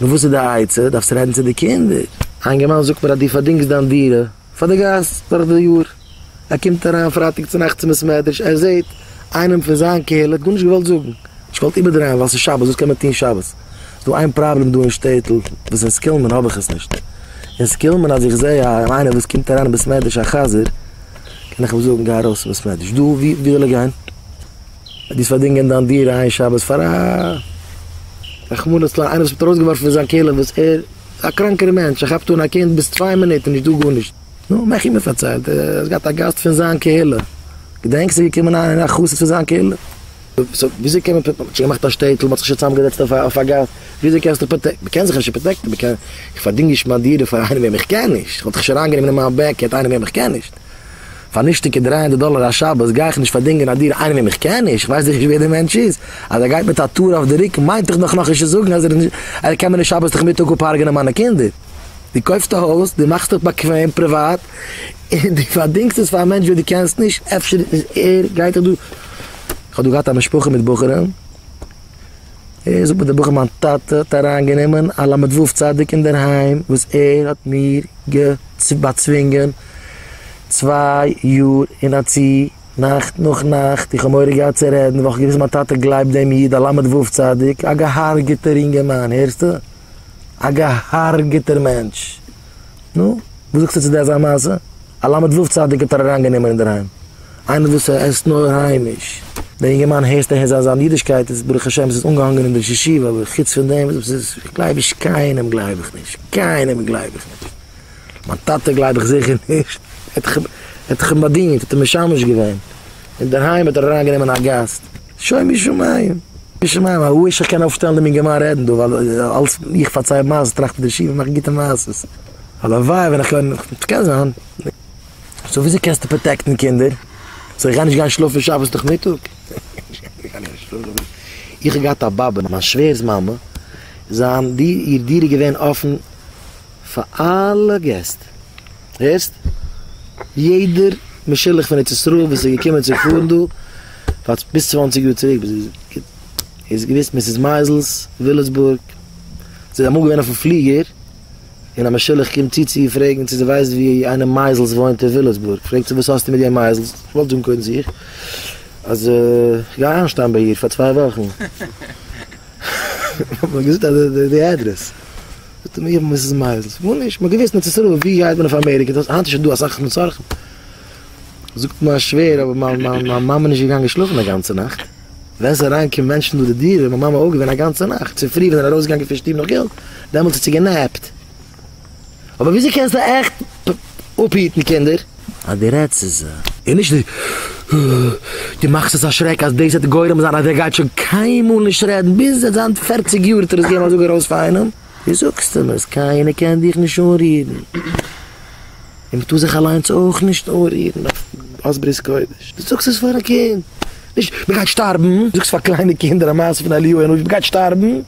נו וואס איז די עצה? דארפסט רעדן צו די קינדער. א אינגערמאן זאגט מיר אז דו פארדינגסט דיין דירה פאר די גאס דורך די יאר. ער קומט אריין פרייטאג צונאכטס אין בית מדרש, ער זעט איינעם פון זיין קהילה, ער האט גארנישט געוואלט זאגן, נישט געוואלט איבערדרייען ווייל ס'איז שבת, וואס קען מען טון שבת? ס'איז דא איין פראבלעם דא אין שטעטל, וואס אין סקילמען האב איך עס נישט. אין סקילמען אז איך זע איינער וואס קומט אריין אין בית מדרש א חזיר, קען איך אים זאגן גיי ארויס פון בית מדרש. דא ווי וויל ער גיין? דאס פארדינגען דיין דירה איין שבת פאר א רחמנא לצלן איינער וואס ווערט ארויסגעווארפן פון זיין כלא וואס ער איז א קראנקער מענטש ער כאפט אן א קינד ביז צוויי מינוט איז נישטא גארנישט נו מעך איך מיר פארציילט ער האט געהאט א גאסט פון זיין קהילה געדענקסט איז געקומען איינער א חסיד פון זיין קהילה סאו וויאזוי קען מען מען האט שוין געמאכט א שטעטל מען האט זיך שוין צוזאמגעזעצט אויף א גאס וויאזוי קענסטו פראטעקטן מען קען זיך נישט פראטעקטן מען קען איך פארדינג נישט מיין דירה פאר איינעם וועם איך קען נישט איך וואלט דיך שוין אריינגענומען אין מיין בעק יערט איינעם וועם איך קען נישט. פאר נישטיגע דרײַ הונדערט דאלער א שבת גיי איך נישט פארדינגען א דירה איינעם וועם איך קען נישט, איך ווייס נישט ווער די מענטש איז, אז ער גייט מיט א טור אויף די רוקן מיינט דאך נאך נישט צו זאגן אז ער קען מיר נישט שבת נאכמיטאג אפ'הרג'נען מיינע קינדער. דו קויפסט א הויז, דו מאכסט עס באקוועם, פריוואט, און דו פארדינגסט עס פאר א מענטש וועם דו קענסט נישט, אפשר איז ער, גייט ער דא, איך האב דא געהאט א משפחה מיט בחורים, ער זאגט מיר דער בחור מיין טאטע האט אריין גענומען א למד ו' צדיק אינדערהיים וואס ער האט מיר באצווינגען צוויי יאר אין א צו נאכט נאך נאכט איך האב מורא געהאט צו רעדן ווייל איך האב געוויסט מיין טאטע גלייבט דעם איד א למד ו' צדיק א געהארגעטער אינגערמאן הערסטו א געהארגעטער מענטש. נו, וואס זאגסטו צו די אזא מעשה? א ל' ו' צדיק האט ער אריין גענומען אינדערהיים? איינער וואס עסט נאר היימיש? דער אינגערמאן הערסט אהער זיין זיין אידישקייט איז ברוך השם עס איז אנגעהאנגען אין די ששיבה אבער חוץ פון דעם וואס איז איך גלייב נישט קיינעם גלייב איך נישט קיינעם גלייב איך נישט מיין טאטע גלייב איך זיכער נישט ער האט דאך אים באדינט ער האט אים משמש געווען אינדערהיים האט ער אריין גענומען א גאסט. שוין משמים, משמים א וויש איך קען אויפשטעלן דעם אינגערמאן רעדן דא ווייל אלס איך פארצייל מעשה'ס טראכט ער די שיף און מאכט גוטע מעשה'ס, הלוואי ווען איך קען, ס'קען זיין, סאו וויאזוי קענסטו פראטעקטן קינדער? זאל איך גיין נישט גיין שלאפן שבת נאכמיטאג? איך האב געהאט א באבע, מיין שווער'ס מאמע, זיין דיר, איר דיר איז געווען אפן פאר אלע געסט, הערסט? יעדער משולח פון ארץ ישראל וואס איז געקומען צו פארן דא פאר ביז צוואנציג יאר צוריק ביז איז געוויסט מיסיס מייזעלס, וויליסבורג, זי איז אמאל געווען אויפן פליגער און א משולח קומט צו צו איר פרעגן צו זי ווייסט ווי איינער מייזעלס וואוינט אין וויליסבורג, פרעגט זי וואס האסטו מיט יענג מייזעלס, איך וואלט זאגן קודם זיך אז איך גיי איינשטיין ביי איר פאר צוויי וואכן, האט מען געזאגט אז די אדרעס. זאגט ער מיר וואס איז מייזעלס? איך זאג נישט, מ'האט געוואוסט אין ארץ ישראל, ווי גייט מען אויף אמעריקע, דאס היינט איז שוין דא אסאך מצרכים, זאגט מיין שווער אבער מיין מיין מאמע איז נישט געגאנגען שלאפן א גאנצע נאכט, ווען ס'איז אריין געקומען מענטשן דורך די דירה איז מיין מאמע אויף געווען א גאנצע נאכט, צופרי ווען ער איז ארויס געגאנגען פון שטוב נאך געלט, דעמאלטס האט זי גענעפט. אבער וויאזוי קענסטו עכט אפהיטן קינדער? אז די רעדסט צו זיי. און נישט די די מאכסט עס א שרעק אז דאס וועט גורם זיין אז ער גייט שוין קיינמאל נישט רעדן ביז ער זיין פערציג יאר וועט ער עס געבן א זאג ארויס פאר איינעם, דו זאגסט אים עס קיינער קען דיך נישט אנרירן און מען טאר זיך אליינס אויך נישט אנרירן אויף ברית קודש, דו זאגסט עס פאר א קינד נישט מען גייט שטארבן, דו זאגסט פאר קליינע קינדער א מעשה פון אליהו הנביא מען גייט שטארבן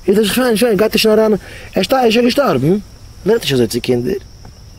איז ער שוין שוין גייט ער שוין אריין ער שטאר ער איז שוין געשטארבן, מען רעדט נישט אזוי צו קינדער.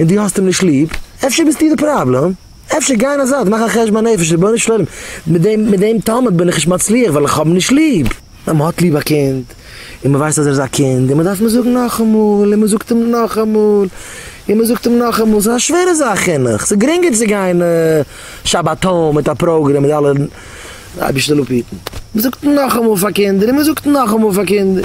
און דו האסט אים נישט ליב, אפשר ביסטו די פראבלעם, אפשר גיי אין א זייט, מאך א חשבון הנפש, רבונו של עולם, מיט דעם מיט דעם תלמיד בין איך נישט מצליח ווייל איך האב אים נישט ליב. ווען מ'האט ליב א קינד, און מ'ווייסט אז ער איז א קינד, און מ'דארף אים זאגן נאכאמאל, און מ'זאגט אים נאכאמאל, און מ'זאגט אים נאכאמאל, ס'איז א שווערע זאך חינוך, ס'איז גרינגער צו גיין שבתון מיט א פראגרעם מיט אלע, אייבערשטער לאפ היטן, מ'זאגט נאכאמאל פאר קינדער, און מ'זאגט נאכאמאל פאר קינדער.